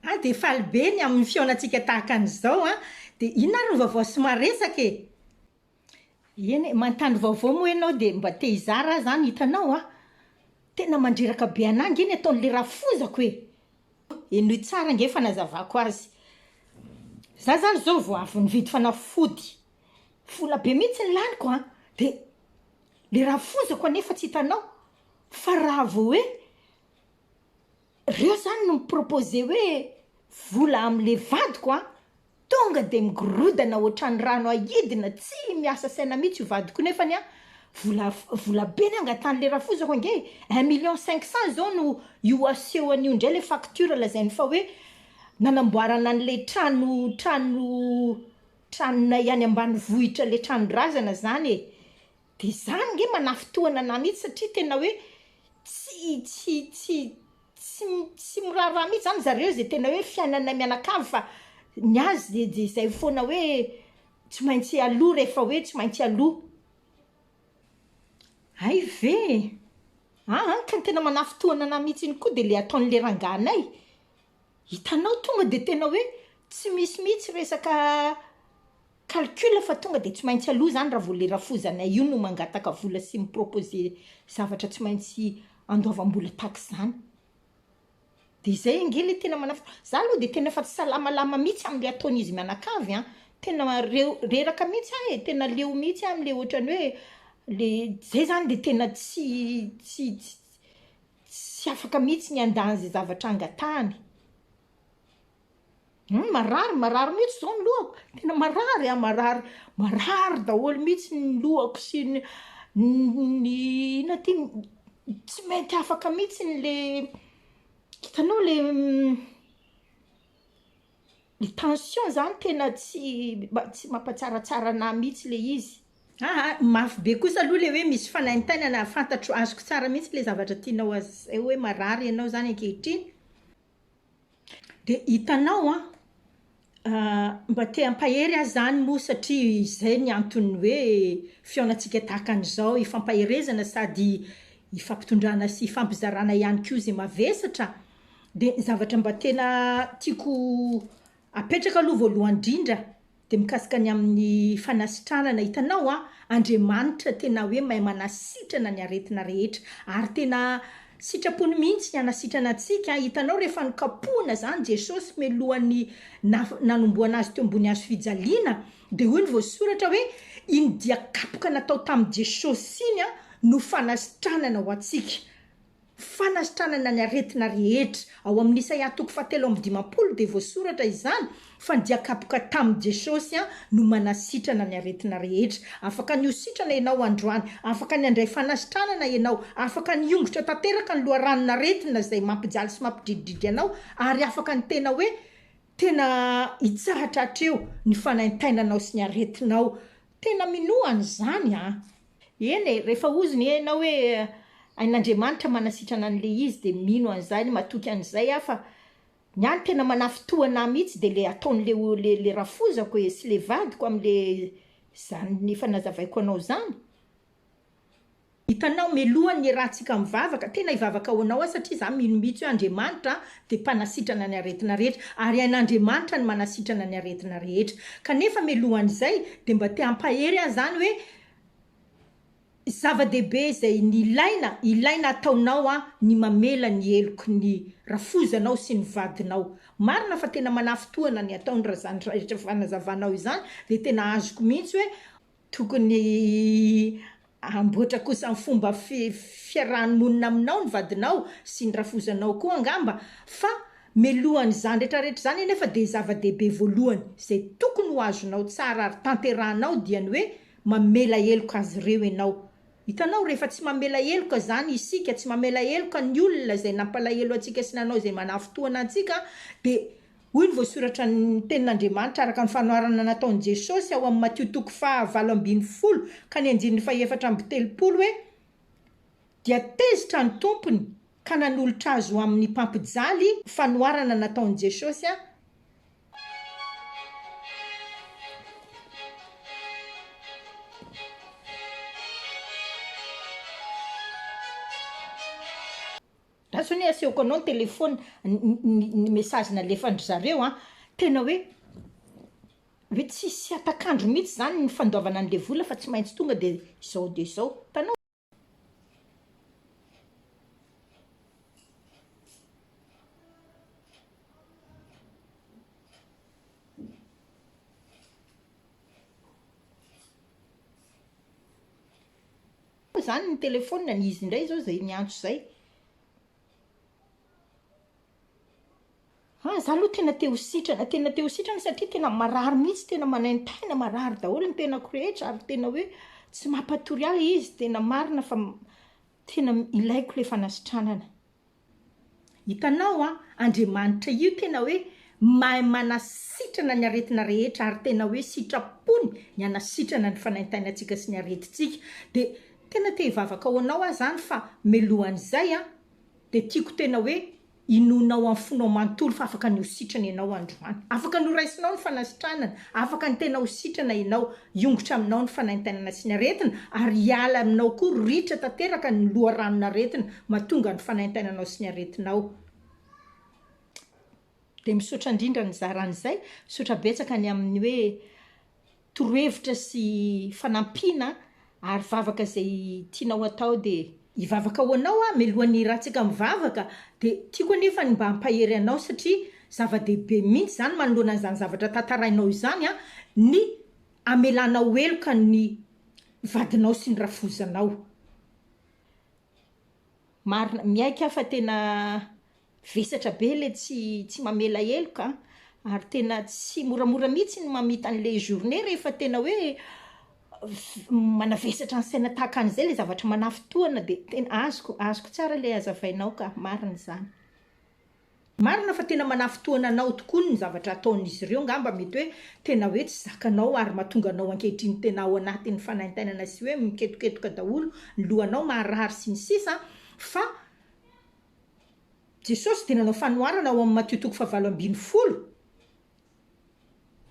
Hay dia faly be ny amin'ny fihaonantsika tahaka an'izao an! Dia inona ary ny vaovao sy maresaka e? Eny e, manontany vaovao moa ianao dia mba te hizara aho izany, hitanao an! Tena mandreraka be an'ahy ange ny ataon'ilay rafozako e! Henoy tsara ange ny fanazavako azy. Izaho izany izao vao avy nividy fanafody Vola be mihitsy ny laniko an! Dia le raha foizako anefa tsy hitanao fa raha vao hoe reo zany no mi-proposer hoe vola amle vadiko an! Tonga dia migorodana ohatran'ny rano ahidina tsy miasa saina mihitsy io vadiko io nefany an! Vola vola be ny angatan'le rafoizako ange e! Un million cinq cent izao no io aseho an'io indray le facture lazainy fa hoe nanamboarana an'le trano trano Tranonay any ambanivohitra le tranondrazana zany e! de zany nge manafintohana anah mihitsy satria tena hoe tsy tsy tsy tsy tsy miraharaha mihitsy zany zareo ze tena hoe fiainanay mianakavy fa ny azy de zay foana hoe tsy maintsy aloha rehefa hoe tsy maintsy aloha hay ve e! aa ka ny tena manafintohana anah mihitsy iny koa de le ataonle rangahy anay Hitanao tonga dia tena hoe tsy misy mihitsy resaka calcul fa tonga dia tsy maintsy aloha izany raha vao le rafozanay io no mangataka vola sy mi-proposer zavatra tsy maintsy andoavam-bola tahaka izany. Dia izay ange le tena manaf- za aloha dia tena efa tsy salamalama mihitsy am'le ataon'izy mianakavy an! Tena reo- reraka mihitsy aho e! Tena leo mihitsy aho am'le ohatran'ny hoe le zay izany dia tena tsy tsy ts-. Tsy afaka mihitsy ny handà an'izay zavatra angatahany. Hum, marary, marary mihitsy zao ny lohako. Tena marary an, marary, marary daholo mihitsy ny lohako sy ny ny inona ty, tsy mety afaka mihitsy ny le, hitanao le. Ny tension zany tena tsy tsy mampatsaratsara anah mihitsy le izy. Aa mafy be kosa aloha le hoe misy fanaintainana fantatro azoko tsara mihitsy le zavatra tianao aseho hoe marary ianao zany ankehitriny de hitanao an mba te hampahery ahy zany moa satria izay ny anton'ny hoe fihaonantsika tahaka an'izao hifampaherezana sady hifampitondrana sy hifampizarana ihany koa ze mavesatra De ny zavatra mba tena tiako apetraka aloha voalohany indrindra de mikasika ny amin'ny fanasitranana, hitanao an, Andriamanitra tena hoe mahay manasitrana ny aretina rehetra ary tena sitrapony mihitsy ny hanasitrana antsika, hitanao rehefa nokapohina izany Jesosy mialohan'ny naha- nanomboana azy teo ambony hazo fijaliana dia hoy ny voasoratra hoe iny dia kapoka natao tamin'i Jesosy iny an no fanasitranana ho antsika. fanasitranana ny aretina rehetra. Ao amin'ny Isaia toko fahatelo amby dimampolo dia voasoratra izany fa ny dia kapoka tamin'i Jesosy no manasitrana ny aretina rehetra. Afaka ny ho sitrana ianao androany. Afaka ny handray fanasitranana ianao. Afaka ny hiongotra tanteraka ny loharanon'aretina izay mampijaly sy mampidrididry anao ary afaka ny tena hoe tena hitsahatra hatreo ny fanaintainanao sy ny aretinao. Tena minoa an'izany an! Eny e, rehefa ozy ny enao hoe ain'Andriamanitra manasitrana an'le izy de mino an'izany, matoky an'izay aho fa ny ahy ny tena manafintohana ahy mihitsy de le ataon'le o le le rafozako e sy le vadiko am'le zany efa nazavaiko anao zany, Hitanao meloha ny ratsika mivavaka, tena hivavaka ho anao aho satria izaho mino mihitsy hoe Andriamanitra dia mpanasitrana ny aretina rehetra ary hain'Andriamanitra ny manasitrana ny aretina rehetra. Kanefa melohan'izay dia mba te hampahery ahy izany hoe zava-dehibe izay ny ilaina, ilaina ataonao an, ny mamela ny heloky ny rafozanao sy ny vadinao. Marina fa tena manafintohina ny ataon'i Razandry raha rehetra fanazavanao izany dia tena azoko mihitsy hoe Tokony hamboatra kosa ny fomba fiarahan'ny monina aminao ny vadinao sy ny rafozanao koa angamba fa mialohan'izany retraretra izany anefa dia zava-dehibe voalohany izay tokony ho azonao tsara ary tanterahanao dia ny hoe mamela heloka azy ireo ianao. Hitanao rehefa tsy mamela heloka izany isika, tsy mamela heloka ny olona izay nampalahelo antsika sy nanao izay manafintohina antsika dia Hoy ny voasoratra ny tenin'Andriamanitra araka ny fanoharana nataon'i Jesosy ao amin'ny Matio toko faha valo ambin'ny folo ka ny andininy faha efatra amby telopolo hoe, Dia tezitra ny tompony ka nanolotra azy ho amin'ny mpampijaly, fanoharana nataon'i Jesosy a. Fa zao anie asehoko anao ny telephone ny message nalefan-dry zareo an, tena hoe hoe tsisy hatak'andro mihitsy zany ny fandoavana an'le vola fa tsy maintsy tonga de zao de zao, hitanao? Koa izany ny telephone ny izy indray izao izay niantso izay. Ah za aloha tena te ho sitrana tena te ho sitrana satria tena marary mihitsy tena manaintaina marary daholo ny tenako rehetra ary tena hoe tsy mampatory ahy izy tena marina fa tena ilaiko le fanasitranana. Hitanao an, Andriamanitra io tena hoe mahay manasitrana ny aretina rehetra ary tena hoe sitrapony ny hanasitrana ny fanaintainantsika sy ny aretintsika. Dia tena te hivavaka ho anao aho izany fa mialohan'izay an, dia tiako tena hoe inoanao amin'ny fonao manontolo fa afaka ny ho sitrana ianao androany. Afaka noraisinao ny fanasitranana. Afaka ny tena ho sitrana ianao, hiongotra aminao ny fanaintainana sy ny aretina, ary hiala aminao koa ritra tanteraka ny loharanon'aretina mahatonga ny fanaintainanao sy ny aretinao. Dia misaotra indrindra nizara an'izay. Misaotra betsaka ny amin'ny hoe torohevitra sy fanampiana Ary vavaka izay tianao atao dia. Hivavaka ho anao aho mialohan'ny hirantsika mivavaka dia tiako anefa ny mba hampahery anao satria zava-dehibe mihitsy izany manoloana an'izany zavatra tantarainao izany an, ny hamelanao heloka ny vadinao sy ny rafozanao. Marina, miaiky aho fa tena vesatra be ilay tsy tsy mamela heloka an, ary tena tsy moramora mihitsy ny mamita an'ilay journée rehefa tena hoe manavesatra ny saina tahaka an'izay ilay zavatra manafintohina dia tena azoko azoko tsara ilay hazavainao ka, marina izany. Marina fa tena manafintohina anao tokoa ny zavatra ataon'izy ireo, ngamba mety hoe tena hoe tsy zakanao ary mahatonga anao ankehitriny tena ao anatin'ny fanaintainana sy hoe miketoketoka daholo ny lohanao, maharary sy ny sisa fa Jesosy dia nanao fanoharana ao amin'ny Matio toko fahavalo ambin'ny folo,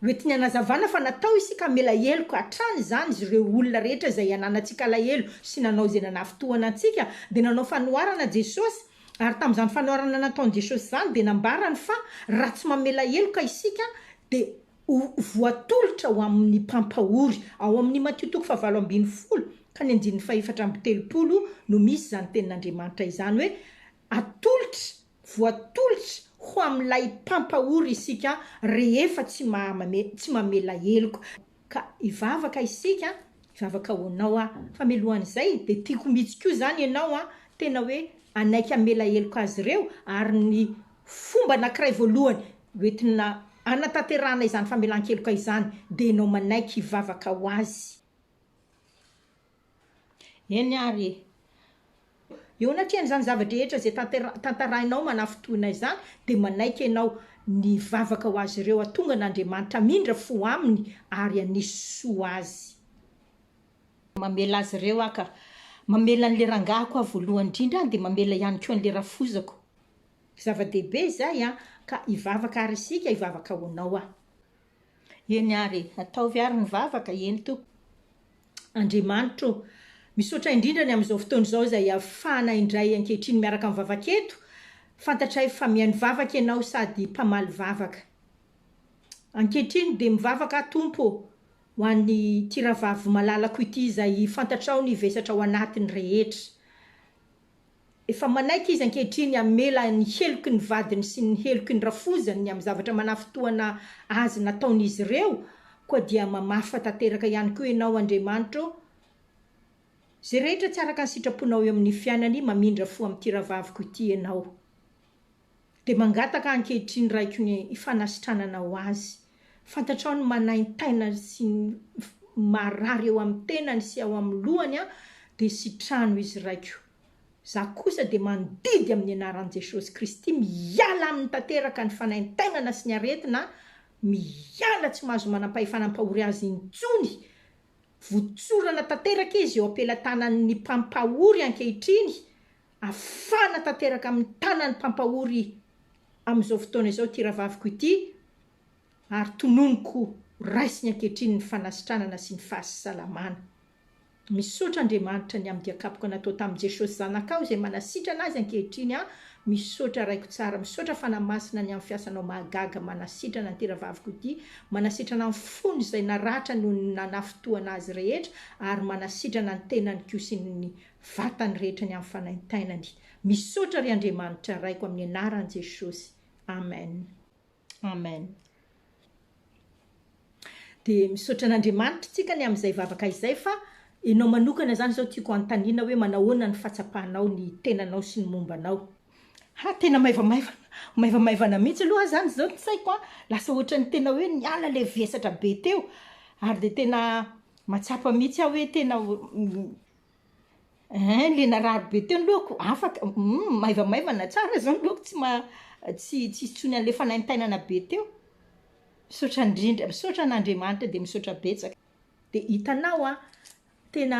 Hoentiny hanazavana fa natao isika hamela heloka hatrany izany izy ireo olona rehetra izay ananantsika alahelo sy nanao izay nanafintohana antsika dia nanao fanoharana Jesosy ary tamin'izany fanoharana nataony Jesosy izany dia nambarany fa raha tsy mamela heloka isika dia ho voatolotra ho amin'ny mpampahory ao amin'ny Matio toko fahavalo ambin'ny folo ka ny andininy fahefatra amby telopolo no misy izany tenin'Andriamanitra izany hoe atolotra Voatolotra ho amin'ilay mpampahory isika rehefa tsy mahamame tsy mamela heloka. Ka hivavaka isika, hivavaka ho anao aho. Fa mialohan'izay dia tiako mitsy koa izany ianao an, tena hoe hanaiky hamela heloka azy ireo ary ny fomba anankiray voalohany hoentina hanatanterahana izany famelan-keloka izany dia ianao manaiky hivavaka ho azy. Eny ary e! Eo anatrehan'izany zava-drehetra izay tantera- tantarainao manafintohina izany, dia manaiky ianao ny hivavaka ho azy ireo hatongan'Andriamanitra hamindra fo aminy ary hanisy soa azy. Mamela azy ireo Aho ka. Mamela an'ilay rangahiko Aho voalohany indrindra an, dia mamela ihany koa an'ilay rafozako. Zava-dehibe izay an, ka hivavaka àry isika, hivavaka ho anao aho. Eny ary e! Ataovy ary ny vavaka, eny Tompo Andriamanitra o! Misaotra indrindra ny amin'izao fotoana izao izay ahafahana indray ankehitriny miaraka mivavaka eto, fantatray fa mihaino vavaka Ianao sady mpamaly vavaka. Ankehitriny dia mivavaka aho Tompo o! ho an'ity rahavavy malalako ity izay fantatrao ny vesatra ao anatiny rehetra. Efa manaiky izy ankehitriny hamela ny heloky ny vadiny sy ny heloky ny rafozany ny amin'ny zavatra manafintohana azy nataon'izy ireo, koa dia mamafa tanteraka ihany koa ianao Andriamanitra ô! Izay rehetra tsy araka ny sitraponao eo amin'ny fiainany mamindra fo amin'ity rahavaviko ity ianao. Dia mangataka ankehitriny Raiko ny fanasitranana ho azy. Fantatrao ny manaintaina sy ny marary eo amin'ny tenany sy ao amin'ny lohany an, dia sitrano izy Raiko. Za kosa dia mandidy amin'ny anaran'i Jesosy Kristy miala aminy tanteraka ny fanaintainana sy ny aretina an, miala tsy mahazo manampahefana hampahory azy intsony. Votsorana tanteraka izy eo am-pelatanan'ny mpampahory ankehitriny Afana tanteraka amin'ny tanan'ny mpampahory amin'izao fotoana izao ity rahavaviko ity ary tononiko raisiny ankehitriny ny fanasitranana sy ny fahasalamana. Misaotra Andriamanitra ny amin'ny diakapoka natao tamin'i Jesosy Zanakao izay manasitrana azy ankehitriny aho, misaotra Raiko tsara, misaotra Fanahy Masina ny amin'ny fiasanao mahagaga manasitrana an'ity rahavaviko ity, manasitrana ny fony izay naratra noho ny nanafintohana azy rehetra ary manasitrana ny tenany koa sy ny vatany rehetra ny amin'ny fanaintainany. Misaotra ry Andriamanitra Raiko amin'ny anaran'i Jesosy. Amen. Amen. Dia misaotra an'Andriamanitra tsika ny amin'izay vavaka izay fa enao manokana zany zao tiako anontaniana hoe manao ahoana ny fatsapanao ny tenanao sy ny momba anao. Ha tena maivamaivana maivamaivana mihitsy aloha zany izao ny saiko an! Lasa ohatran'ny tena hoe niala ilay vesatra be teo ary dia tena mahatsapa mihitsy aho hoe tena Hein le narary be teo ny lohako, afaka, humm maivamaivana tsara izao ny lohako tsy ma- tsy tsy hisy intsony an'ilay fanaintainana be teo. Misaotra indrindra, misaotra an'Andriamanitra dia misaotra betsaka. Dia hitanao an, tena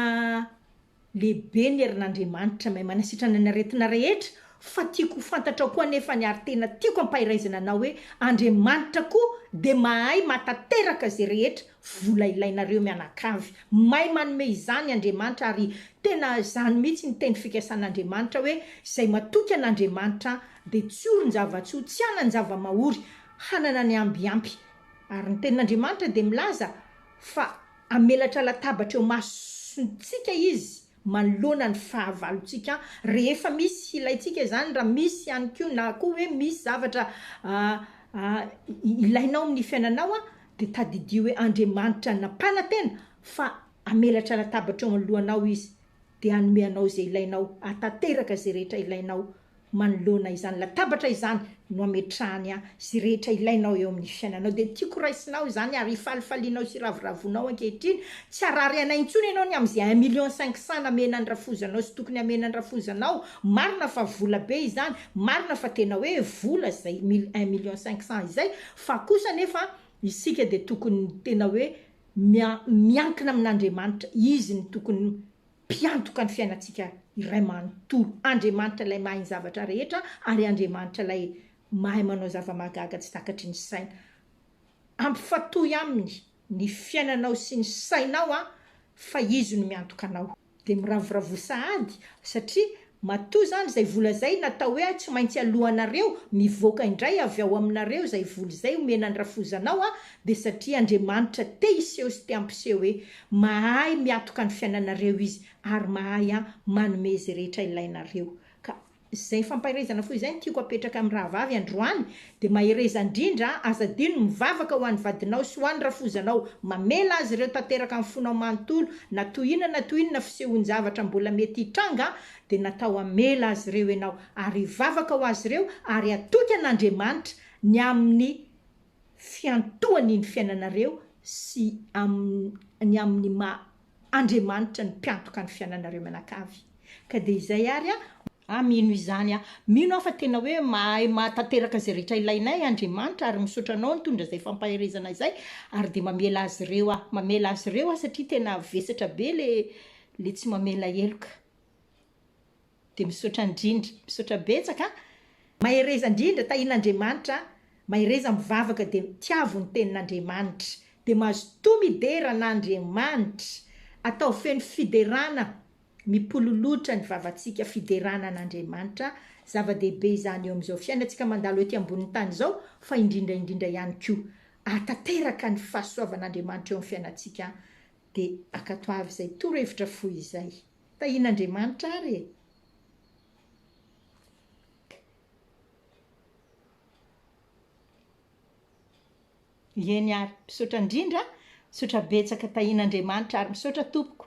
lehibe ny herin'Andriamanitra mahay manasitrana ny aretina rehetra, fa tiako ho fantatrao koa anefa ny ary tena tiako ampahiraizana anao hoe Andriamanitra koa dia mahay mahatateraka izay rehetra Vola ilainareo mianakavy. May manome izany Andriamanitra ary tena izany mihitsy ny teny fikasan'Andriamanitra hoe izay matoky an'Andriamanitra dia tsy orin-java-tsoa, tsy hanan-java-mahory, hanana ny ambiampy. Ary ny tenin'Andriamanitra dia milaza fa hamelatra latabatra eo imasontsika izy manoloana ny fahavalontsika rehefa misy ilaintsika izany, raha misy ihany koa na koa hoe misy zavatra ilainao amin'ny fiainanao dia tadidio hoe Andriamanitra nampanantena fa hamelatra latabatra eo anoloanao Izy dia hanome anao izay ilainao, hahatanteraka izay rehetra ilainao. Manoloana izany latabatra izany no ametrahany ahy sy rehetra ilainao eo amin'ny fiainanao dia tiako raisinao izany ary ifalifalianao sy iravoravoanao ankehitriny, tsy harary anay intsony ianao ny amin'izay un million cinq cent namena an'i rafozanao sy tokony hamena an'i rafozanao, marina fa vola be izany, marina fa tena hoe vola izay mil un million cinq cent izay fa kosa anefa isika dia tokony tena hoe mia miankina amin'Andriamanitra, izy no tokony Mpiantoka ny fiainantsika iray manontolo. Andriamanitra ilay mahay ny zavatra rehetra ary Andriamanitra ilay mahay manao zava-mahagaga tsy takatry ny saina. Ampifatoy Aminy ny fiainanao sy ny sainao fa Izy no miantoka anao. Dia miravoravoa sahady satria Matoa izany izay vola izay natao hoe ahy tsy maintsy aloanareo mivoaka indray avy ao aminareo izay vola izay omena ny rafozanao aho dia satria Andriamanitra te hiseho sy te hampiseho hoe mahay miatoka ny fiainanareo izy ary mahay an manome izay rehetra ilainareo ka izay fampaherezana fo izay no tiako apetraka amin'ny rahavavy androany Dia mahereza indrindra an! Aza adino ny mivavaka ho an'ny vadinao sy ho an'ny rafozanao. Mamela azy ireo tanteraka amin'ny fonao manontolo, na toy inona na toy inona fisehoan-javatra mbola mety hitranga, dia natao hamela azy ireo ianao. Ary hivavaka ho azy ireo ary hatoky an'Andriamanitra ny amin'ny fiantohany ny fiainanareo sy ny amin'ny maha Andriamanitra ny mpiantoka ny fiananareo mianakavy ka dia izay ary a! Aho mino izany aho. Mino aho fa tena hoe mahay mahatanteraka izay rehetra ilainay Andriamanitra ary misaotra anao nitondra izay fampaherezana izay ary dia mamela azy ireo aho. Mamela azy ireo aho satria tena vesatra be le le tsy mamela heloka. Dia misaotra indrindra. Misaotra betsaka a. Mahereza indrindra, tahian'Andriamanitra a. Mahereza mivavaka dia tiavo ny tenin'Andriamanitra. Dia mazotoa midera an'Andriamanitra. Ataovy feno fiderana. Mipololotra ny vavantsika fiderana an'Andriamanitra. Zava-dehibe izany eo amin'izao fiainantsika mandalo ety ambonin'ny tany izao fa indrindra indrindra ihany koa. Ahatanteraka ny fahasoavan'Andriamanitra eo amin'ny fiainantsika. Dia ankatoavy izay torohevitra fohy izay. Tahian'Andriamanitra ary e! Ieny ary, misaotra indrindra, misaotra betsaka, tahian'Andriamanitra ary, misaotra tompoko.